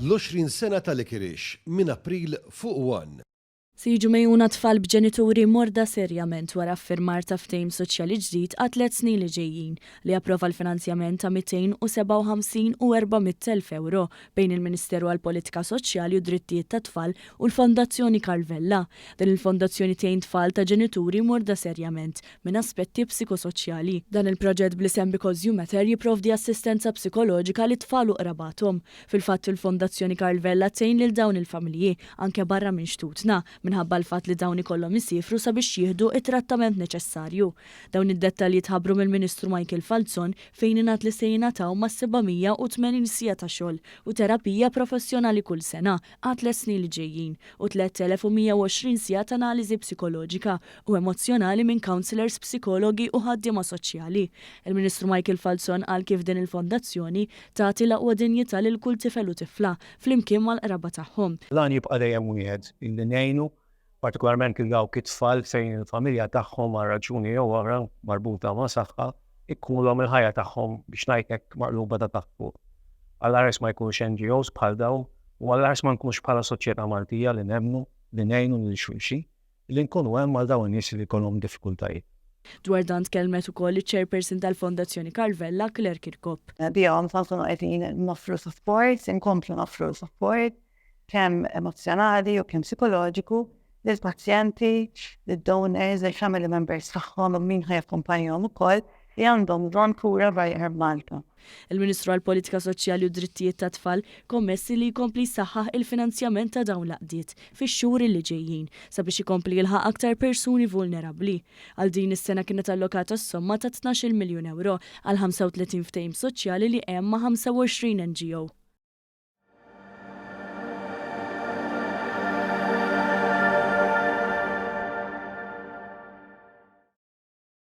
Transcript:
L-20 sena ta' Likirix, minn April fuq one. Se jiġu megħjuna tfal b'ġenituri morda serjament wara ffirmar ta' ftehim soċjali ġdid għat-tliet snin li ġejjin li approva l-finanzjament ta' 257 u 400 elf ewro bejn il-Ministeru għall-Politika Soċjali u d-Drittijiet tat-Tfal u l-Fondazzjoni Karl Vella. Din il-fondazzjoni tgħin tfal ta' ġenituri morda serjament minn aspetti psikosoċjali. Dan il-proġett bl-isem Because You Matter jipprovdi assistenza psikoloġika lit-tfal u qrabathom. Fil-fatt, il-Fondazzjoni Karl Vella tgħin lil dawn il-familji anke barra minn xtutna, minħabba l-fatt li dawn ikollhom isiefru sabiex jieħdu t-trattament neċessarju. Dawn id-dettalji tħabbru mill-Ministru Michael Falzon fejn ingħad li se jingħataw ma' 780 siegħa ta' xogħol u terapija professjonali kull sena għat-tliet snin li ġejjin u 3,120 siegħa t'analiżi psikoloġika u emozzjonali minn counsellors, psikologi u ħaddiema soċjali. Il-Ministru Michael Falzon qal kif din il-fondazzjoni tagħti l-aqwa dinjità lil kull tifel u tifla, flimkien mal-qraba tagħhom. L-għan jibqa' dejjem wieħed, illi ngħinu partikolarment lil dawk it-tfal fejn il-familja tagħhom għal raġuni jew oħra marbuta ma' saħħa jkunulhom il-ħajja tagħhom biex ngħid hekk maqluba ta' taħt fuq. Għall-ares ma jkunx NGOs bħal dawn u għall-ares ma nkunx bħala soċjetà Maltija li nemmnu li ngħinu lil xulxin li nkunu hemm għal dawn in-nies li jkollhom diffikultajiet. Dwar dan tkellmet ukoll iċ-Chairperson tal-Fondazzjoni Karl Vella, Claire Kirkop. Bihom se nkunu qegħdin noffru sapport, inkomplu noffru sapport kemm emozzjonali u kemm psikoloġiku lill-pazjenti, lid-donors, lill-family members tagħhom u min ħa jakkumpanjahom ukoll li għandhom bżonn kura barra minn Malta. Il-Ministru għall-Politika Soċjali u d-Drittijiet tat-Tfal kommessi li jkompli jsaħħaħ il-finanzjament ta' dawn l-għaqdiet fix-xhur li ġejjin sabiex ikompli jilħaq aktar persuni vulnerabbli. Għal din is-sena kienet allokata s-somma ta' tnax-il miljun ewro għal 35 ftehim soċjali li hemm ma' 25 NGO.